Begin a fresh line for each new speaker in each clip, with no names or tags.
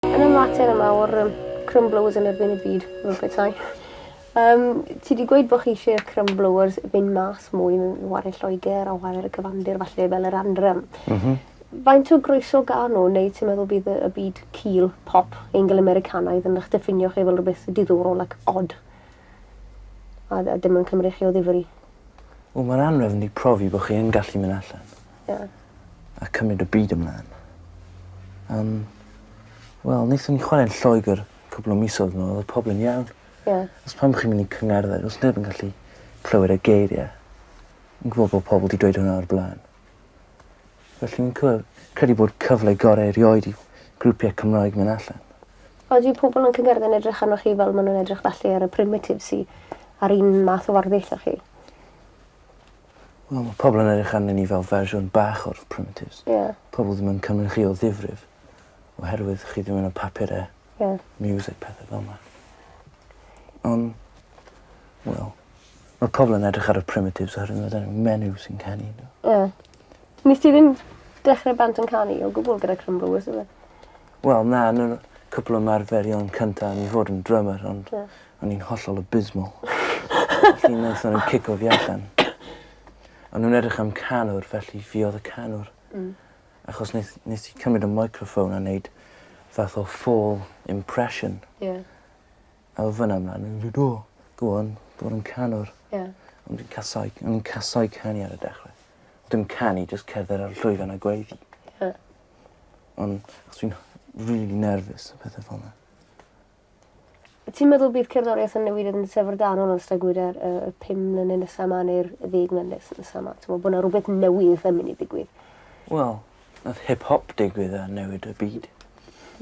Yn y mater yma o'r yym crymblows yn erbyn y byd fel petai. Yym ti 'di gweud bo' chi isie'r crymbloers fyn' mas mwy mewn ware Lloeger a ware ar y cyfandir falle fel yr Anthem. M-hm. Faint o groeso ga'n n'w neu ti'n meddwl bydd y y byd cul, pop, Eingl-Americanaidd yn 'ych diffinio chi fel rwbeth diddorol ac od? A d- a dim yn cymru chi o ddifri. Wel ma'r
Anrefn 'di profi bo' chi yn gallu myn' allan. Ie. A cymryd y byd ymlan. Yym. Wel nethon ni chware'n Lloegyr cwpwl o misodd nôl odd pobol yn iawn. Ie. Os pam bo' chi'n myn' i cyngerddau do's neb yn gallu clywed y geirie. Fi'n gwbo bo' pobol 'di dweud hwnna o'r bla'n. Felly fi'n cw- credu bod cyfle gore erioed i grwpie Cymraeg myn' allan. Odi pobol
yn cyngerddau'n edrych arnoch chi fel ma' nw'n edrych felly ar y primitives sy a'r un math o warddiaith â chi? Wel
ma' pobol yn edrych arnyn ni fel fersiwn bach o'r primitives. Ie. Pobol ddim yn cymry chi o ddifrif oherwydd chi dim yn y papure. Ie. Music pethe fel 'na. On' wel ma' pobol yn edrych ar y primitives oherwydd ma' 'da n'w menyw sy'n canu n'w. Ie.
Nes ti ddim dechre band yn canu o gwbwl gyda Crymrws odd e? Wel na
yn yr cwpwl o ymarferion cynta o'n i fod yn drymer ond... Ie. ...o'n i'n hollol abysmal. Felly naethon n'w cico fi allan. O'n nw'n edrych am canwr felly fi odd y canwr. Hmm. Achos neth nes i cymryd y meicroffon a neud fath o fôl impression. Ie. A o fyn 'na mlan o'n nw'n gweud o go on bod yn canwr. Ie. O'n fi'n casau o'n i'n casau canu ar y dechre. Dim canu jyst cerdded ar y llwyfan a gweiddi. Ie. Ond achos fi'n rili nerfus a pethe fel 'na. Wyt
ti'n meddwl bydd cerddoriaeth yn newid yn syfrdanol yn ystod gwed yr yy y pum mlynedd nesa 'ma neu'r y ddeg mlynedd nes- nesa 'ma? T'mo' bo' 'na rwbeth newydd yn myn' i ddigwydd? Wel,
nath hip hop digwydd a newid y byd.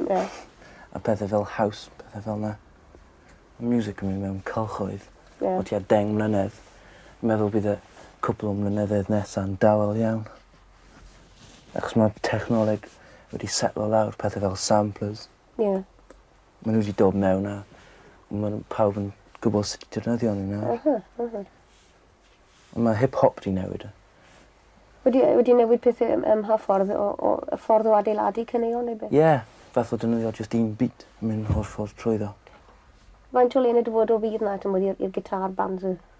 Ie. A pethe fel house pethe fel 'na. Ma' miwsic yn myn' mewn cylchoedd. Ie. O tua deng mlynedd. Meddwl bydd y cwpwl o mlynyddoedd nesa'n dawel iawn. Achos ma' technoleg wedi setlo lawr pethe fel samplers. Ie. Ma' n'w 'di dod mewn a ma' n'w pawb yn gwbod sut i defnyddio n'w nawr. M-hm m-hm. On' ma' hip hop 'di newid. Wedi
yy wedi newid pethe yym ym mha ffordd o o y ffordd o adeiladu caneuon neu be'? Ie. Fath o defnyddio
jyst un beat a myn' holl ffordd trwyddo. Faint
o le yn y dyfodol fydd 'na t'mod i'r i'r guitar bands yy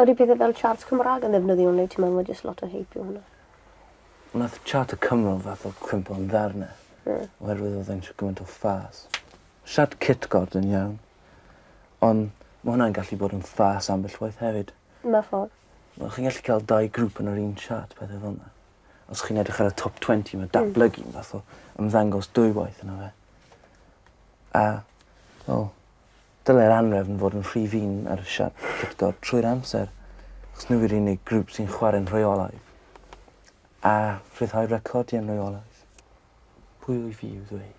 Odi
pethe fel charts Cymraeg yn ddefnyddiol neu ti'n meddwl ma' jyst lot o hype yw hwnna? Nath
chart y Cymro fath o crimpo yn ddarne. Ie. Oherwydd odd e'n isio gymaint o ffas. Siart cytgord yn iawn. On' ma' hwnna'n gallu bod yn ffas ambell waith hefyd. Mewn ffor.
Wel chi'n gallu ca'l
dau grŵp yn yr un siart pethe fel 'na. Os chi'n edrych ar y top twenty ma' datblygu'n fath o ymddangos dwywaith yno fe. A, wel, Dylai'r anhrefn fod yn rhy fin ar siart Victor trwy'r amser, achos nhw yw'r unig grŵp sy'n chwarae'n rheolaidd, a rhyddhau recordiau'n rheolaidd. Pwy wyf fi i'w ddweud?